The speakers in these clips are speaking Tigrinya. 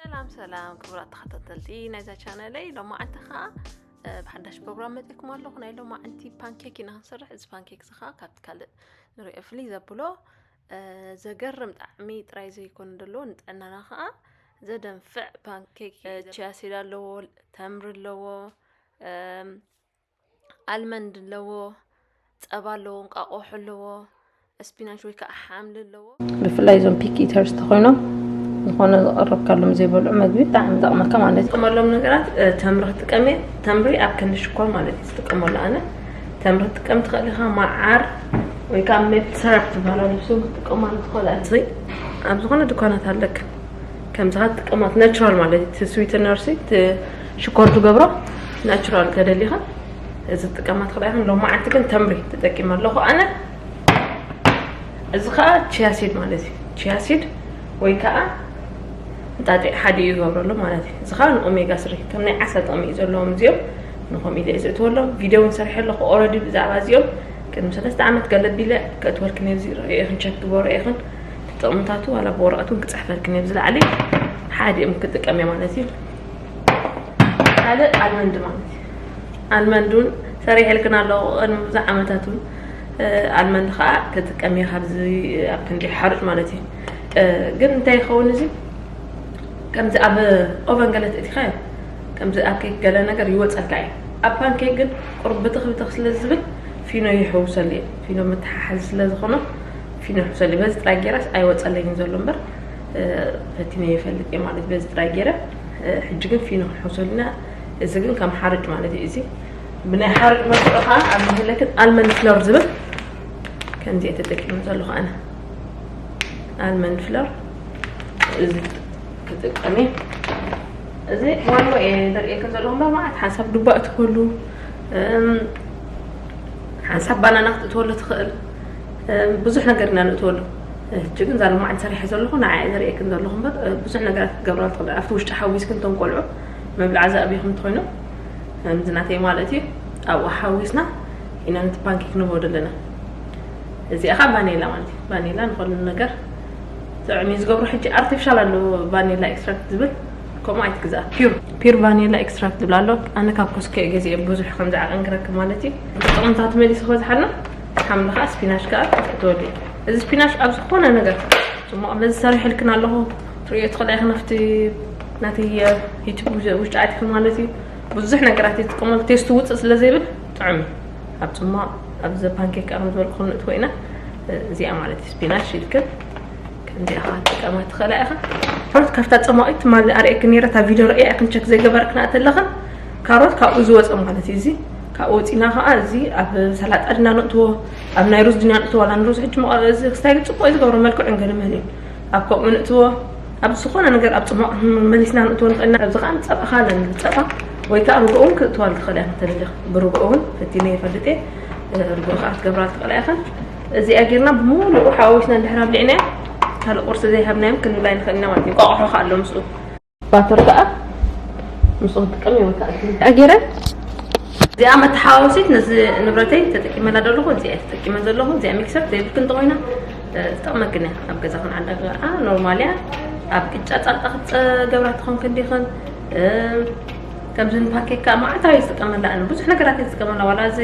ሰላም ሰላም ክቡራት ተኸታተልቲ ናይዛ ቻነለይ ሎማዓንቲ ከዓ ብሓዳሽ ፕሮግራም መፅኩም ኣለኹ ናይ ሎም ዓንቲ ፓንኬክ ኢና ክንሰርሕ እዚ ፓንኬክ እዚ ከዓ ካብቲ ካልእ ንሪኦ ፍልይ ዘብሎ ዘገርም ጣዕሚ ጥራይ ዘይኮነ ዘለዎ ንጥዕናና ከዓ ዘደንፍዕ ፓንኬክ ቺያሲድ ኣለዎ ተምሪ ኣለዎ ኣልመንድ ኣለዎ፣ ጸባ ኣለዎ፣ እንቃቆሖ ኣለዎ፣ ስፒናች ወይ ከዓ ሓምሊ ኣለዎ። ብፍላይ እዞም ፒክ ኢተርስ ተኾይኖም ዝኾነ ዝቐረብካሎም ዘይበልዑ መግቢ ብጣዕሚ ይጠቕመካ ማለት እዩ። ጥቀመሎም ነገራት ተምሪ ክጥቀም እየ። ተምሪ ኣብ ክንዲ ሽኮር ማለት እዩ ዝጥቀመሉ ኣነ። ተምሪ ክትጥቀም ትኽእል ኢኻ፣ መዓር ወይ ከዓ ሜፕል ሰራፕ ዝበሃላ ልብሱ ክትጥቀማሉ ትኽእል ኣብዚ ዝኾነ ድኳናት ኣለክ ከምዝኻ ትጥቀማት ናቹራል ማለት እዩ እቲ ስዊትነር ሲ እቲ ሽኮር ትገብሮ ናቹራል ተደሊኻ እዚ ትጥቀማ ትኽእላ ኢኻ ሎማዓንቲ ግን ተምሪ ተጠቂመ ኣለኹ ኣነ እዚ ከዓ ቺያሲድ ማለት እዩ ቺያሲድ ወይ ከዓ እንጣጢዕ ሓደ እዩ ዝገብረሉ ማለት እዩ እዚ ከዓ ንኦሜጋ ስሪ ከም ናይ ዓሳ ጥቕሚ እዩ ዘለዎም እዚኦም ንኸምኡ ኢለ ዝእትወሎም ቪድዮ እውን ሰርሐ ኣለኹ ኦረዲ ብዛዕባ እዚኦም ቅድሚ ሰለስተ ዓመት ገለቢለ ከእትወልክን እየ እዚ ርእየኽን ቸክ ግበሮ ኢኽን እቲ ጥቕምታቱ ዋላ ብወረቐት እውን ክፅሕፈልክን እየ ብዝለዓለ ሓዲኦም ክጥቀም እየ ማለት እዩ ካልእ ኣልመንድ ማለት እዩ ኣልመንድ እውን ሰሪሐልክን ኣለዎ ቅድሚ ብዙሕ ዓመታት እውን ኣልመንድ ከዓ ክጥቀም እየ ካብዚ ኣብ ክንዲ ሓሩጭ ማለት እዩ ግን እንታይ ይኸውን እዚ ከምዚ ኣብ ኦቨን ገለ ትእቲኻ እዩ ከምዚ ኣብ ኬክ ገለ ነገር ይወፀልካ እዩ ኣብ ፓንኬክ ግን ቁርብ ብትኽ ብትኽ ስለ ዝብል ፊኖ ይሕውሰሉ እዩ ፊኖ መተሓሓዚ ስለ ዝኾነ ፊኖ ሰሊ በዚ ጥራይ ጌራስ ኣይወጸለይን ዘሎ እምበር ፈቲነ ይፈልጥ እየ ማለት በዚ ጥራይ ጌረ ሕጂ ግን ፊኖ ክንሕውሰሉና እዚ ግን ከም ሓርጭ ማለት እዩ እዚ ብናይ ሓርጭ መልክዑ ከዓ ኣብ መህለክን ኣልመንድ ፍሎር ዝብል ከምዚ እየ ተጠቂሙ ዘለኹ ኣነ ኣልመንድ ፍሎር እዚ ክጥቀም እዩ እዚ ዋንኡ እየ ዘርእየከ ዘለኹ እምበር ማለት ሓንሳብ ዱባ እትከሉ ሓንሳብ ባናና ክትእትወሉ ትኽእል ብዙሕ ነገር ኢና ንእትወሉ ሕጂ ግን እዛ ልማዓንቲ ሰሪሐ ዘለኹ ንዓ እየ ዘርእየክን ዘለኹ እምበር ብዙሕ ነገራት ክትገብራ ትኽእል ኣብቲ ውሽጢ ሓዊስክን እቶም ቆልዑ መብልዓ ዘዕብኹም ትኮይኑ ከምዚ ናተይ ማለት እዩ ኣብኡ ሓዊስና ኢና ነቲ ፓንኬክ ንበዶ ኣለና እዚኣ ከዓ ቫኒላ ማለት እዩ ቫኒላ ንኸሉ ነገር ጥዕሚ ዝገብሩ ሕጂ ኣርቲፊሻል ኣሎ ቫኒላ ኤክስትራክት ዝብል ከምኡ ኣይትግዛ ፒር ፒር ቫኒላ ኤክስትራክት ዝብል ኣሎ ኣነ ካብ ኮስከ ገዚኦ ብዙሕ ከምዚ ዓቐን ክረክብ ማለት እዩ ጥቕምታት መሊሱ ከዝሓልና ሓምሊ ከኣ ስፒናሽ ከኣ ክትፈትወሉ እዩ እዚ ስፒናሽ ኣብ ዝኾነ ነገር ጽሞቕ በዚ ሰሪሕልክን ኣለኹ ትርእዮ ትኽእላ ኢኽን ኣብቲ ናተይ ዩቱብ ውሽጢ ኣትክን ማለት እዩ ብዙሕ ነገራት ይጥቀመሉ ቴስቱ ውፅእ ስለ ዘይብል ጥዑም እዩ ኣብ ጽሟቕ ኣብ ዘ ፓንኬክ ኣብ ዝበልኩ ክንእትዎ ኢና እዚኣ ማለት እዩ ስፒናሽ ኢልክን ከምዚ ኢኻ ትጠማ ትኽእላ ኢኻ ካሮት ካብታ ፀማቒት ትማሊ ኣርእየኪ ነይረ እታ ቪድዮ ረእያ ኢኽን ቸክ ዘይገበርክና እተለኽን ካሮት ካብኡ ዝወፀ ማለት እዩ እዚ ካብኡ ወፂና ከዓ እዚ ኣብ ሰላጣ ድና ንእትዎ ኣብ ናይ ሩዝ ድና ንእትዎ ኣላ ንሩዝ ሕጂ እዚ ክስታይ ግን ፅቡቅ እዩ ዝገብሮ መልክዑ ንገድመን እዩ ኣብ ከምኡ ንእትዎ ኣብ ዝኾነ ነገር ኣብ ፅሟቅ መሊስና ንእትዎ ንኽእልና ኣብዚ ከዓ ንፀባ ከዓ ኣለኒ ፀባ ወይ ከዓ ርግኦ እውን ክትእትዋሉ ትኽእላ ኢኻ ተደሊኽ ብርግኦ እውን ፈቲነ ይፈልጥ እየ ርግኦ ከዓ ክትገብራሉ ትኽእላ ኢኻ እዚኣ ጌርና ብምሉኡ ሓዋዊስና እንድሕር ኣብሊዕናዮ ካልእ ቁርሲ ዘይሃብናዮም ክንብላ ንኽእል ኢና ማለት እዩ ቋቑሖ ከዓ ኣሎ ምስኡ ባተር ከዓ ምስኡ ክጥቀም ይወካል ጌረ እዚኣ መተሓዋወሲት ነዚ ንብረተይ ተጠቂመላ ዘለኹ እዚኣ ተጠቂመ ዘለኹ እዚኣ ሚክሰር ዘይብልክን እንተኮይና ዝጠቕመክን እያ ኣብ ገዛ ክን ዓዳ ኖርማል እያ ኣብ ቅጫ ፃልጣ ክትገብራ ትኾን ክንዲኽን ከምዚ ንፓኬካ መዓልታዊ ዝጥቀመላ ብዙሕ ነገራት እየ ዝጥቀመላ ዋላ እዚ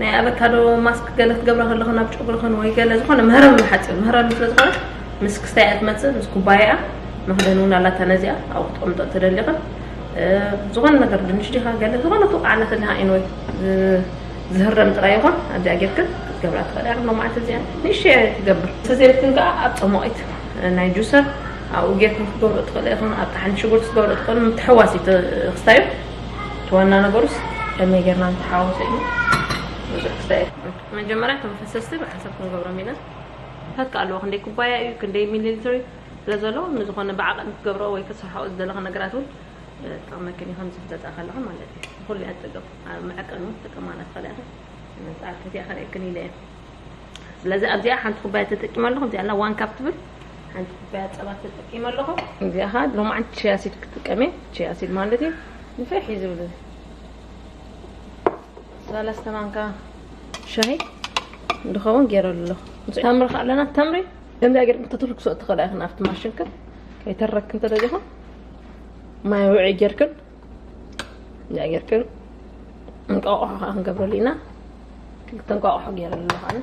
ናይ ኣበካዶ ማስክ ገለ ክትገብረ ከለኹ ናብ ጨጉርኽን ወይ ገለ ዝኾነ ምህረም ንሓፂር ምህረም ስለ ዝኾነ ምስ ክስታይ እያ ትመፅእ ምስ ኩባያኣ መኽደን እውን ኣላታ ነዚኣ ኣብኡ ክትቕምጦ እተደሊኽን ዝኾነ ነገር ድንሽ ዲኻ ገለ ዝኾነ ትውቃዕላ ተለኻ ኢንወይ ዝህረም ጥራይ ይኹን ኣብዚኣ ጌርክን ክትገብራ ትኽእል እያ ክብሎ መዓልቲ እዚኣ ንእሸ ትገብር ተዘይረክን ከዓ ኣብ ፀሞቒት ናይ ጁሰር ኣብኡ ጌርክን ክትገብሩ ትኽእል ኢኹን ኣብ ጣሓን ሽጉርቲ ክትገብሩ ትኽእል ምትሕዋስ እዩ ክስታዩ እቲ ዋና ነገሩስ ከመይ ጌርና ንተሓዋወሶ እዩ ብዙሕ ክስታይ ኣይትኹን መጀመርያ እቶም ፈሰስቲ ብሓንሳብ ክንገብሮም ኢና ንሳትካ ኣለዎ ክንደይ ኩባያ እዩ ክንደይ ሚሊሊትሪ ስለ ዘለዎ ንዝኾነ ብዓቐን ክትገብሮ ወይ ክትሰርሖ ዝደለኻ ነገራት እውን ጠቕመክን እዩ ከምዚ ክትገዝኣ ከለኻ ማለት እዩ ንኹሉ እያ ትጠቅም ኣብ መዐቀኒ እውን ትጥቀማ ናትኻለ ኢኻ ስለዚ ኣብ ከቲኣ ከርእየክን ኢለ እየ ስለዚ ኣብዚኣ ሓንቲ ኩባያ ተጠቂመ ኣለኹ እዚኣ ላ ዋን ካፕ ትብል ሓንቲ ኩባያ ፀባ ተጠቂመ ኣለኹ እዚኣ ከዓ ሎማዓንቲ ቺያ ሲድ ክጥቀም እየ ቺያ ሲድ ማለት እዩ ንፍሕ እዩ ዝብል እዚ ሰለስተ ማንካ ሻሂ ዝኸውን ገይረሉ ኣለኹ ተምሪ ከዓ ኣለና ተምሪ ከምዚኣ ገይርኩም ተትርክሶ እትኽእላ ኢኽን ኣብቲ ማሽንክን ከይተረክን ተደሊኹም ማይ ውዒ ጌርክን ነገር ግን እንቋቑሖ ከዓ ክንገብረሉ ኢና ክልተ እንቋቑሖ ገይረሉ ኣለኹ ኣነ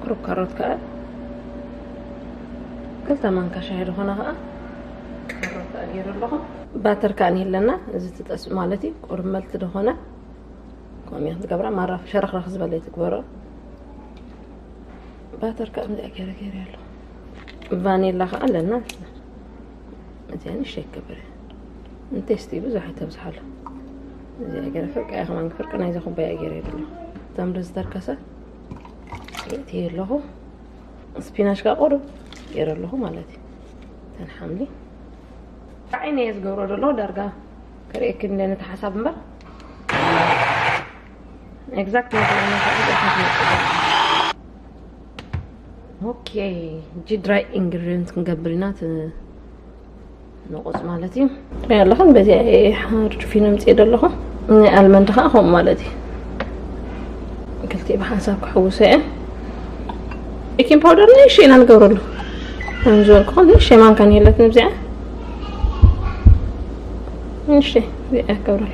ቁሩብ ካሮት ከዓ ክልተ ማንካ ሻሂ ዝኾነ ከዓ ካሮት ከዓ ገይሩ ኣለኹ ባተር ከዓ ኣለና እዚ ትጠስ ማለት እዩ ቁሩብ መልቲ ዝኾነ ከምኡ ክትገብራ ማራ ሸረኽረኽ ዝበለ ትግበሮ ባተር ከዓ ምዚ ገረ ገረ ኣሎ ቫኔላ ከዓ ኣለና እዚኣ ንሸይ ክብር እንቴስቲ ብዙሕ ኣይተብዝሓሉ እዚኣ ገረ ፍርቂ እያ ከማን ፍርቂ ናይዚ ኩባያ ገረ የብሎ ተምሪ ዝተርከሰ እቲ ኣለኹ ስፒናሽ ከዓ ቁሩብ ገረ ኣለኹ ማለት እዩ ተን ሓምሊ ዓይነ እየ ዝገብሮ ዘሎ ዳርጋ ክርእየክን ለነቲ ሓሳብ እምበር ኤግዛክት ኦኬ እጂ ድራይ ኢንግሪዲንት ክንገብር ኢና ንቑፅ ማለት እዩ ትሪኢ ኣለኹም በዚ ሓርድ ፊኖ ምፅእ ዘለኹ ናይ ኣልመንድ ከዓ ከምኡ ማለት እዩ ክልቲኡ ብሓንሳብ ክሕውሶ እየ ቤኪን ፓውደር ንእሽ ኢና ንገብረሉ ከም ዝበልኩ ንእሽ ማንካ ንየለት ንብዚኣ ንእሽ እዚኣ ገብረሉ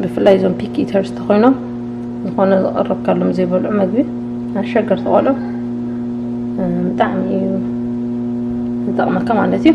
ብፍላይ እዞም ፒክ ኢተርስ ተኾይኖም ዝኾነ ዝቐረብካሎም ዘይበልዑ መግቢ ኣሸገርቲ ቆልዑ ብጣዕሚ እዩ ዝጠቕመካ ማለት እዩ